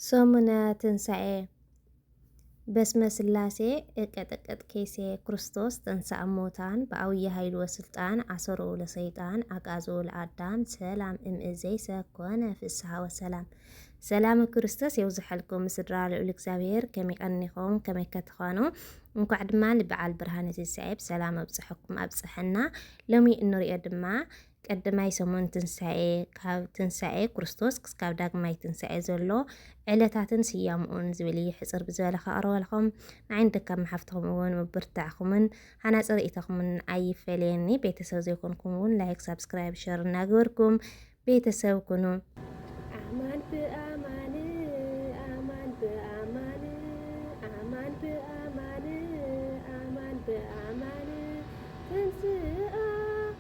ሰሙነ ትንሣኤ በስመ ሥላሴ እቀጠቀጥ ኬሴ ክርስቶስ ተንሥአ እሙታን በዐውየ ኃይሉ ወሥልጣን አሰሮ ለሰይጣን አግዓዞ ለአዳም ሰላም እምእዜሰ ኮነ ፍስሓ ወሰላም ሰላም ክርስቶስ የብዝሐልኩም ስድራ ልዑል እግዚኣብሔር ከመይ ቀኒኹም ከመይ ከትኾኑ እንኳዕ ድማ ንበዓል ብርሃነ ትንሣኤ ብሰላም ኣብፅሐኩም ኣብፅሐና ሎሚ እንሪኦ ድማ ቀድማይ ሰሙን ትንሳኤ፣ ካብ ትንሳኤ ክርስቶስ ክስካብ ዳግማይ ትንሳኤ ዘሎ ዕለታትን ስያምኡን ዝብል እዩ ሕፅር ብዝበለ ከቕርበልኹም ንዓይን ደካብ መሓፍትኹም እውን ምብርታዕኹምን ሓናፂ ርእይቶኹምን ኣይፈለየኒ ቤተሰብ ዘይኮንኩም እውን ላይክ ሳብስክራይብ ሸር እናገበርኩም ቤተሰብ ኩኑ ኣማን ብኣማን ኣማን ብኣማን ኣማን ብኣማን ኣማን ብኣማን ትንስኣ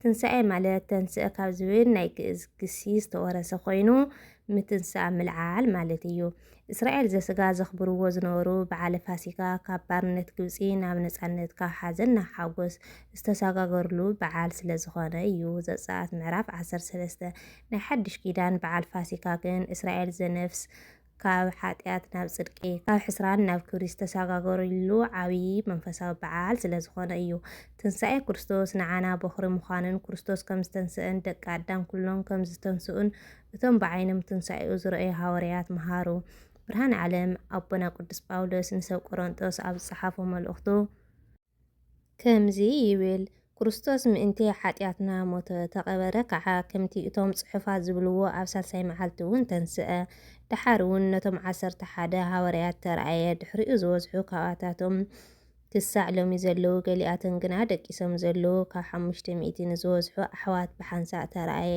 ትንሳኤ ማለት ተንሥእ ካብ ዝብል ናይ ግእዝ ግሲ ዝተወረሰ ኮይኑ ምትንሳእ፣ ምልዓል፣ ማለት እዩ። እስራኤል ዘሥጋ ዘኽብርዎ ዝነበሩ በዓለ ፋሲካ ካብ ባርነት ግብጺ ናብ ነጻነት፣ ካብ ሓዘን ናብ ሓጎስ ዝተሰጋገርሉ በዓል ስለዝኾነ እዩ። ዘጸኣት ምዕራፍ ዓሰርተ ሰለስተ። ናይ ሓድሽ ኪዳን በዓል ፋሲካ ግን እስራኤል ዘነፍስ፣ ካብ ሓጢኣት ናብ ጽድቂ፣ ካብ ሕስራን ናብ ክብሪ ዝተሰጋገሩሉ ዓብዪ መንፈሳዊ በዓል ስለ ዝኾነ እዩ። ትንሳኤ ክርስቶስ ንዓና ቦኽሪ ምዃኑን ክርስቶስ ከም ዝተንስኣን ደቂ ኣዳም ኩሎም ከም ዝተንስኡን እቶም ብዓይኖም ትንሳኤኡ ዝረኣዩ ሃዋርያት መሃሩ። ብርሃን ዓለም ኣቦና ቅዱስ ጳውሎስ ንሰብ ቆሮንጦስ ኣብ ዝጸሓፎ መልእኽቱ፣ ከምዚ ይብል፣ ክርስቶስ ምእንቲ ሓጢኣትና ሞተ፣ ተቐበረ ከኣ፣ ከምቲ እቶም ጽሑፋት ዝብልዎ ኣብ ሳልሳይ መዓልቲውን ተንስኣ። ደሓርውን ነቶም ዓሰርተ ሓደ ሃዋርያት ተራእየ፣ ድሕሪኡ ዝበዝሑ ካብኣታቶም ክሳዕ ሎሚ ዘለዉ፣ ገሊኣቶም ግና ደቂሶም ዘለዉ ካብ ሓሙሽተ ሚእቲ ንዝበዝሑ ኣሕዋት ብሓንሳእ ተራእየ።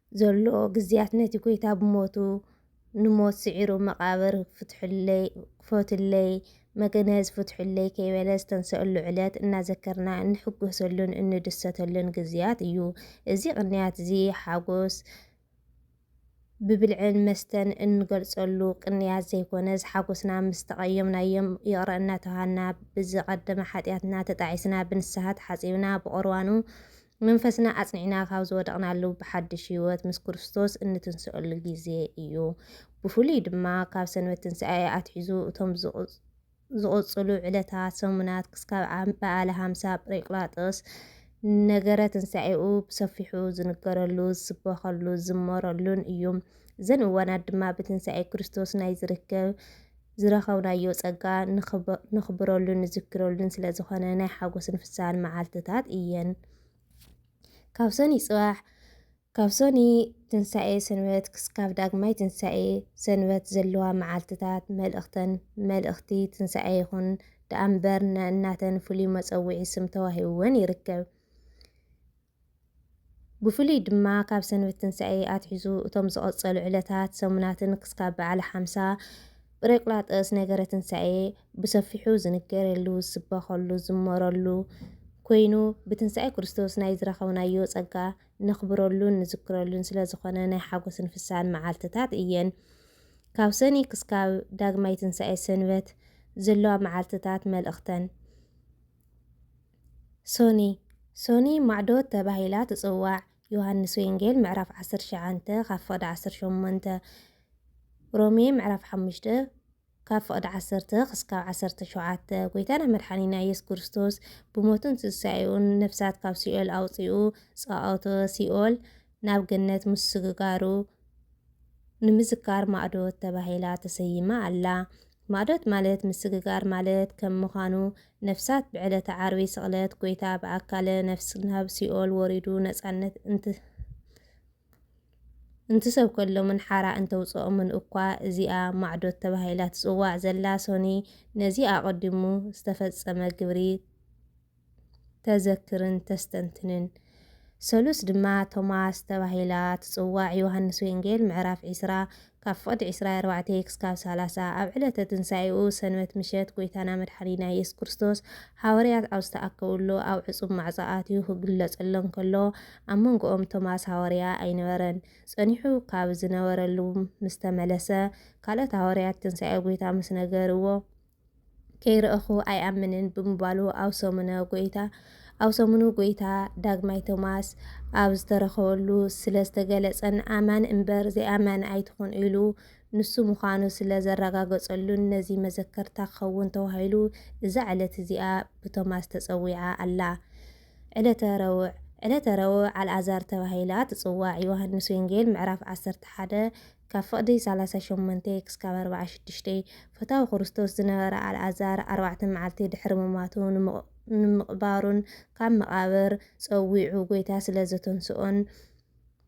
ዘሎ ግዝያት ነቲ ጎይታ ብሞቱ ንሞት ስዒሩ መቃብር ፍትሑለይ ክፈቱለይ መግነዝ ፍትሑለይ ከይበለ ዝተንሰኣሉ ዕለት እናዘከርና እንሕጎሰሉን እንድሰተሉን ግዝያት እዩ። እዚ ቅንያት እዚ ሓጎስ ብብልዕን መስተን እንገልፀሉ ቅንያት ዘይኮነስ ሓጎስና ምስ ተቀየምናዮም ይቅረ እናተበሃልና ብዝቀደመ ሓጥያትና ተጣዒስና ብንስሃ ተሓፂብና ብቁርባኑ መንፈስና ኣጽኒዕና ካብ ዝወደቕናሉ ብሓድሽ ህይወት ምስ ክርስቶስ እንትንስኣሉ ግዜ እዩ። ብፍሉይ ድማ ካብ ሰንበት ትንሳኤ ኣትሒዙ እቶም ዝቕጽሉ ዕለታት፣ ሰሙናት፣ ክስካብ በዓለ ሃምሳ ጵሬቅላጦስ ነገረ ትንሳኤኡ ብሰፊሑ ዝንገረሉ፣ ዝስበኸሉ፣ ዝዝመረሉን እዩ። እዘን እዋናት ድማ ብትንሳኤ ክርስቶስ ናይ ዝርከብ ዝረኸብናዮ ጸጋ ነኽብረሉን ንዝክረሉን ስለ ዝኾነ ናይ ሓጎስን ፍስሃን መዓልትታት እየን። ካብ ሰኑይ ጽባሕ ካብ ሰኑይ ትንሳኤ ሰንበት ክስካብ ዳግማይ ትንሳኤ ሰንበት ዘለዋ መዓልትታት መልእኽተን መልእኽቲ ትንሳኤ ይኹን ደኣምበር ነናተን ፍሉይ መጸውዒ ስም ተዋሂብወን ይርከብ። ብፍሉይ ድማ ካብ ሰንበት ትንሣኤ ኣትሒዙ እቶም ዝቐጸሉ ዕለታት፣ ሰሙናትን ክስካብ በዓለ ሓምሳ ጵሬቅላጠስ ነገረ ትንሣኤ ብሰፊሑ ዝንገረሉ፣ ዝስበኸሉ፣ ዝዝመረሉ ኮይኑ ብትንሣኤ ክርስቶስ ናይ ዝረኸብናዮ ጸጋ ነኽብረሉን ንዝክረሉን ስለ ዝኾነ ናይ ሓጎስን ፍስሃን መዓልትታት እየን። ካብ ሰኒ ክስካብ ዳግማይ ትንሣኤ ሰንበት ዘለዋ መዓልትታት መልእኽተን። ሶኒ ሶኒ ማዕዶት ተባሂላ ትጽዋዕ ዮሃንስ ወንጌል ምዕራፍ ዓሰርተ ትሽዓተ ካብ ፍቕዲ ዓሰርተ ሸሞንተ ሮሜ ምዕራፍ ሓሙሽተ ካብ ፍቕዲ ዓሰርተ ክስካብ ዓሰርተ ሸውዓተ ጎይታና መድሓኒና ኢየሱስ ክርስቶስ ብሞቱን ትንሳኤኡን ነፍሳት ካብ ሲኦል ኣውፂኡ ፀዋኦተ ሲኦል ናብ ገነት ምስግጋሩ ንምዝካር ማእዶት ተባሂላ ተሰይማ ኣላ። ማእዶት ማለት ምስግጋር ማለት ከም ምዃኑ፣ ነፍሳት ብዕለተ ዓርቢ ስቕለት ጎይታ ብኣካለ ነፍስ ናብ ሲኦል ወሪዱ ነጻነት እንት እንትሰብከሎምን ሓራ እንተውጽኦምን እኳ እዚኣ ማዕዶት ተባሂላ ትጽዋዕ ዘላ ሶኒ ነዚ ኣቐዲሙ ዝተፈጸመ ግብሪ ተዘክርን ተስተንትንን። ሰሉስ ድማ ቶማስ ተባሂላ ትጽዋዕ፣ ዮሃንስ ወንጌል ምዕራፍ ዕስራ ካብ ፍቕዲ ዕስራይ ኣርባዕተይ ክስካብ ሳላሳ፣ ኣብ ዕለተ ትንሳኤኡ ሰንበት ምሸት ጎይታና መድሓኒና ኢየሱስ ክርስቶስ ሓወርያት ኣብ ዝተኣከብሉ ኣብ ዕጹብ ማዕጾ ኣትዩ ክግለጸሎም ከሎ ኣብ መንጎኦም ቶማስ ሃወርያ ኣይነበረን ጸኒሑ ካብ ዝነበረሉ ምስተመለሰ ካልኦት ሃወርያት ትንሳኤ ጎይታ ምስ ነገርዎ ከይረእኹ ኣይኣምንን ብምባሉ ኣብ ሰሙነ ጎይታ ኣብ ሰሙኑ ጎይታ ዳግማይ ቶማስ ኣብ ዝተረኸበሉ ስለ ዝተገለጸን ኣማን እምበር ዘይኣማን ኣይትኹን ኢሉ ንሱ ምዃኑ ስለ ዘረጋገጸሉን ነዚ መዘከርታ ክኸውን ተባሂሉ እዛ ዕለት እዚኣ ብቶማስ ተጸዊዓ ኣላ። ዕለተ ረቡዕ ዕለተ ረቡዕ ኣልኣዛር ተባሂላ ትጽዋዕ። ዮሃንስ ወንጌል ምዕራፍ 11 ካብ ፍቕዲ ሰላሳ ሸሞንተ ክሳብ ኣርብዓ ሽዱሽተ፣ ፈታዊ ክርስቶስ ዝነበረ ኣልኣዛር ኣርባዕተ መዓልቲ ድሕሪ ምሟቱን ንምቕባሩን ካብ መቓብር ጸዊዑ ጐይታ ስለ ዘተንስኦን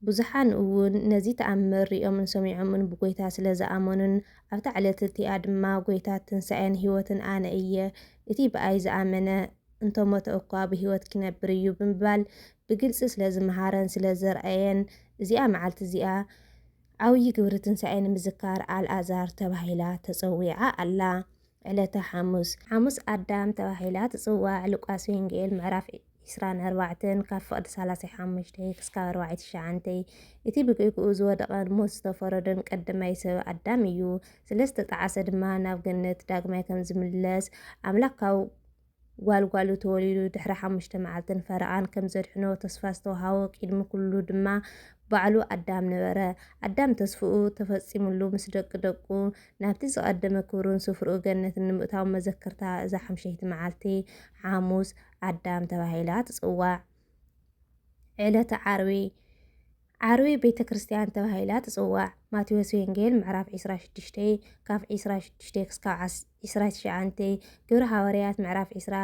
ብዙሓን እውን ነዚ ተኣምር ርእዮምን ሰሚዖምን ብጐይታ ስለ ዝኣመኑን ኣብታ ዕለት እቲኣ ድማ ጐይታ ትንሳኤን ሕይወትን ኣነ እየ እቲ ብኣይ ዝኣመነ እንተሞተ እኳ ብህይወት ኪነብር እዩ ብምባል ብግልጺ ስለ ዝመሃረን ስለ ዘርኣየን እዚኣ መዓልቲ እዚኣ ዓውዪ ግብሪ ትንሳኤ ንምዝካር ኣልኣዛር ተባሂላ ተጸዊዓ ኣላ። ዕለተ ሓሙስ። ሓሙስ ኣዳም ተባሂላ ትጽዋዕ፣ ሉቃስ ወንጌል ምዕራፍ ዕስራን ኣርባዕተን ካብ ፍቕዲ ሰላሳይ ሓሙሽተ ክስካብ ኣርባዕይ ትሽዓንተይ እቲ ብጌግኡ ዝወደቐን ሞት ዝተፈረዶን ቀደማይ ሰብ ኣዳም እዩ። ስለ ዝተጠዓሰ ድማ ናብ ገነት ዳግማይ ከም ዝምለስ ኣምላክ ካብ ጓል ጓሉ ተወሊዱ ድሕሪ ሓሙሽተ መዓልትን ፈረቓን ከም ዘድሕኖ ተስፋ ዝተወሃቦ ቂድሚ ኩሉ ድማ ባዕሉ ኣዳም ነበረ። ኣዳም ተስፍኡ ተፈጺሙሉ ምስ ደቂ ደቁ ናብቲ ዝቐደመ ክብሩን ስፍርኡ ገነትን ንምእታው መዘከርታ እዛ ሓምሸይቲ መዓልቲ ሓሙስ ኣዳም ተባሂላ ትጽዋዕ። ዕለተ ዓርቢ ዓርቢ ቤተ ክርስቲያን ተባሂላ ትጽዋዕ። ማቴዎስ ወንጌል ምዕራፍ ዕስራ ሽዱሽተ ካብ ዕስራ ሽዱሽተ ክስካብ ዕስራ ትሽዓንተ፣ ግብሪ ሃዋርያት ምዕራፍ ዕስራ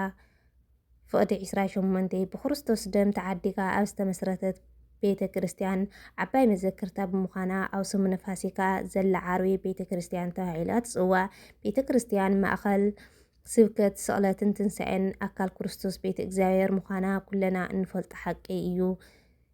ፍቕዲ ዕስራ ሸሞንተ ብክርስቶስ ደም ተዓዲጋ ኣብ ዝተመስረተት ቤተ ክርስቲያን ዓባይ መዘክርታ ብምዃና ኣብ ሰሙነ ፋሲካ ዘላ ዓርቢ ቤተ ክርስቲያን ተባሂላ ትጽዋዕ። ቤተ ክርስቲያን ማእከል ስብከት ስቕለትን ትንሳኤን ኣካል ክርስቶስ ቤተ እግዚኣብሔር ምዃና ኩለና እንፈልጦ ሓቂ እዩ።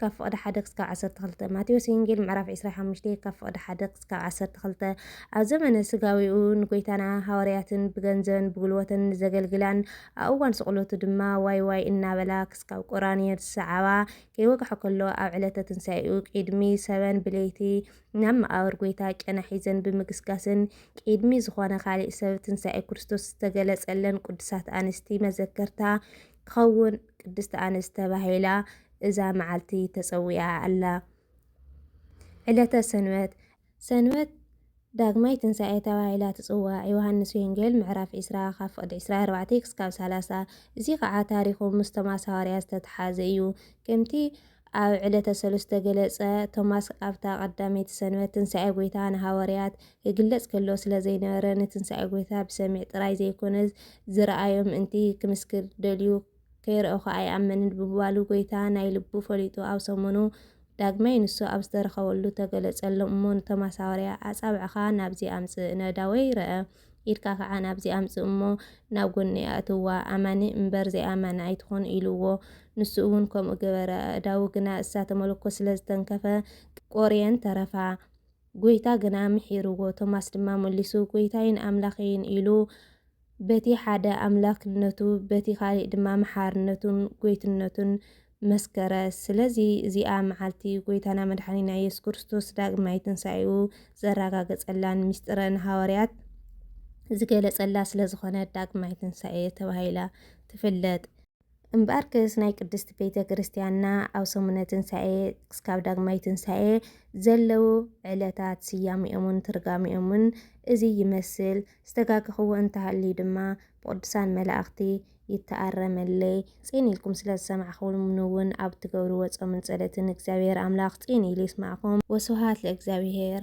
ካብ ፍቕዲ ሓደ ክስካብ ዓሰርተ ክልተ፣ ማቴዎስ ወንጌል ምዕራፍ ዕስራይ ሓሙሽተ ካብ ፍቕዲ ሓደ ክስካብ ዓሰርተ ክልተ፣ ኣብ ዘመነ ስጋዌኡ ንጎይታና ሃዋርያትን ብገንዘበን ብጉልቦተን ንዘገልግላን ኣብ እዋን ስቕሎቱ ድማ ዋይ ዋይ እናበላ ክስካብ ቁራንዮ ዝሰዓባ ከይወግሐ ከሎ ኣብ ዕለተ ትንሣኤኡ ቂድሚ ሰበን ብለይቲ ናብ መቓብር ጎይታ ጨና ሒዘን ብምግስጋስን ቂድሚ ዝኾነ ካሊእ ሰብ ትንሣኤ ክርስቶስ ዝተገለጸለን ቅዱሳት ኣንስቲ መዘከርታ ክኸውን ቅድስት ኣንስት ተባሂላ እዛ መዓልቲ ተጸዊዓ ኣላ። ዕለተ ሰንበት። ሰንበት ዳግማይ ትንሣኤ ተባሂላ ትጽዋዕ፣ ዮሐንስ ወንጌል ምዕራፍ ዕስራ ካብ ፍቕዲ ዕስራ ኣርባዕተ ክሳብ ሰላሳ። እዚ ኸኣ ታሪኹ ምስ ቶማስ ሃዋርያ ዝተተሓሓዘ እዩ። ከምቲ ኣብ ዕለተ ሰሉስ ዝተገለጸ፣ ቶማስ ኣብታ ቀዳመይቲ ሰንበት ትንሣኤ ጐይታ ንሃዋርያት ክግለጽ ከሎ ስለ ዘይነበረ ንትንሣኤ ጐይታ ብሰሚዕ ጥራይ ዘይኮነስ ዝረኣዮ ምእንቲ ክምስክር ደልዩ ከይረኣኹ ኣይኣምንን ብምባሉ ጎይታ ናይ ልቡ ፈሊጡ ኣብ ሰሙኑ ዳግማይ ንሱ ኣብ ዝተረኸበሉ ተገለጸሎም እሞ ንቶም ኣሳውርያ ኣጻብዕኻ ናብዚ ኣምጽእ ነዳወይ ረኣ ኢድካ ከዓ ናብዚ ኣምጽእ እሞ ናብ ጎኒ ኣእትዋ ኣማኒ እምበር ዘይኣማኒ ኣይትኹን ኢልዎ ንሱ እውን ከምኡ ገበረ ኣእዳዉ ግና እሳተ መለኮት ስለ ዝተንከፈ ቆርየን ተረፋ ጎይታ ግና ምሒርዎ ቶማስ ድማ መሊሱ ጎይታይን ኣምላኸይን ኢሉ በቲ ሓደ ኣምላክነቱ በቲ ካሊእ ድማ መሓርነቱን ጎይትነቱን መስከረ። ስለዚ እዚኣ መዓልቲ ጎይታና መድሓኒና ኢየሱስ ክርስቶስ ዳግማይ ትንሳኤኡ ዘራጋገጸላን ሚስጥረ ንሃዋርያት ዝገለጸላ ስለዝኾነት ዳግማይ ትንሳኤ ተባሂላ ትፍለጥ። እምበኣርከስ ናይ ቅድስት ቤተ ክርስቲያንና ኣብ ሰሙነ ትንሣኤ ክስካብ ዳግማይ ትንሣኤ ዘለዉ ዕለታት ስያሜኦምን ትርጋሜኦምን እዚ ይመስል፣ ዝተጋገኽዎ እንተሃልዩ ድማ ብቕዱሳን መላእኽቲ ይተኣረመለይ፣ ጽን ኢልኩም ስለ ዝሰማዕኩምኒውን ኣብ እትገብርዎ ጾምን ጸሎትን እግዚኣብሔር ኣምላኽ ጽን ኢሉ ይስማዕኩም፣ ወስብሃት ለእግዚኣብሔር።